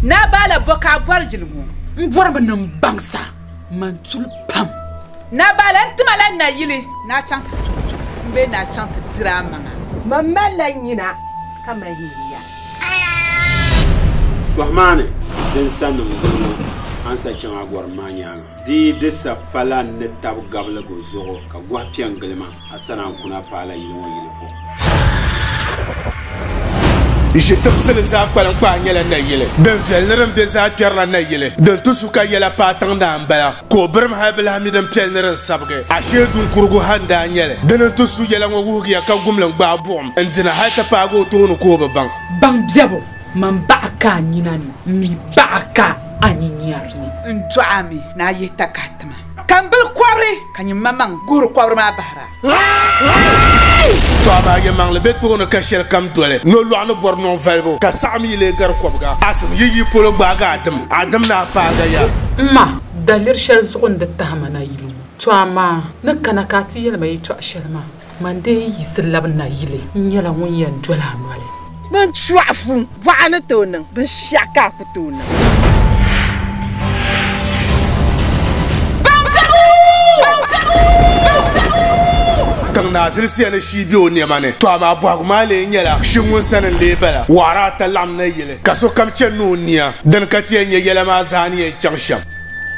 Naa Baala bɔ ka a bɔri yili ŋɔ? M bɔri mi ni m baŋ sa, m ma n-tuli pam. Naa Baala, n ti ma la n na yili ni a chaŋ ti tuhi tuhi m bee ni a chaŋ ti diri a maŋa? Mam mali la nyina ka mali nyuya. Sɔhi maa ni din sa niŋ gili ŋɔ, a ni sa chaŋ a bɔrim maa nyaaŋa. Di yi di sa pala n ni tabi gabiligu zuɣu ka gɔhi pe n gili ma. A sani an kuna paala yili ŋɔ yili vuhim. Ʒi tiŋsili zaa kpaliŋkpaa nyɛla nayili din viɛli ni din be zaa kpɛrila nayili din ti su ka yɛla paai tiŋdaa m-bala ka o birim hal bi lahi mi din piɛli ni din sabigi. Ashee duŋkurugu ha n-daa nyɛli. Di ni n ti su yɛla ŋɔ wuhigiya ka gumli n-gbaai buɣim n-dina hal ti paagi o tooni ka o bi baŋ. Baŋ biɛbu, man baɣa ka a nyina ni, m mi baɣa ka a nyinyɛri ni. N dɔɣi a mi ni a yihi takahitima. Ka n bili kɔbiri ka nyiŋmamaŋ guhiri kɔbiri maa bahira. Tɔɣiba a yɛmaŋli be tooni ka shɛlikam doli nolɔɣu ni bɔri nɔŋ valibu, ka saɣi mi yi lee gari kɔbiga asim yi yi polo gbaagi a dim, a dim ni a paagi a ya. M ma, daliri shɛli zuɣu n-di tahima na yili ŋɔ. Tɔɣa maa ni kana ka a ti yɛli ma yɛtɔɣ shɛli maa. Man dee yiɣisi labi n nayili, n nyɛla ŋun yɛn doli a noli. Din chuɣu fu buɣa ni tooi niŋ binshɛɣu ka a ku tooi niŋ. Tiŋ naa zilisiya ni shii be o nɛma ni, tɔ amaa bɔhigu maa lee nyɛla, Shi ŋun sani n-lee bala? Waɣiri ata laɣim nayili, ka sokam chani ni o nia. Dini ka ti yɛn nya yɛla maa zaa ni yɛn chaŋ shɛm?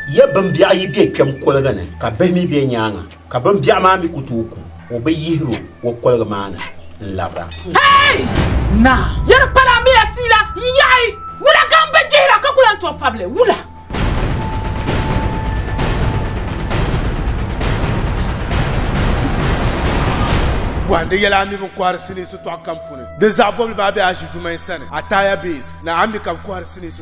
Ya bimbiɛɣu yi be kpɛm kuliga ni, ka bihi mi be nyaaŋa. Ka bimbiɛɣu maa mi ku tooi ku o bi yihir o o koligi maa ni n-labira. Hey! Naa! Yi di pala a mi a fiila n-yahi! Wula ka m bi dihira ka ku lan tooi pabi li? Wula? Bɔhindi yɛla a mi bi kɔhiri sinii sitɔɣu kam puuni. Di zaɣ bɔbili maa be Aʒi Dumain sani, Ataya Base, ni a mi ka bɛ kɔhiri sinii sitɔɣu.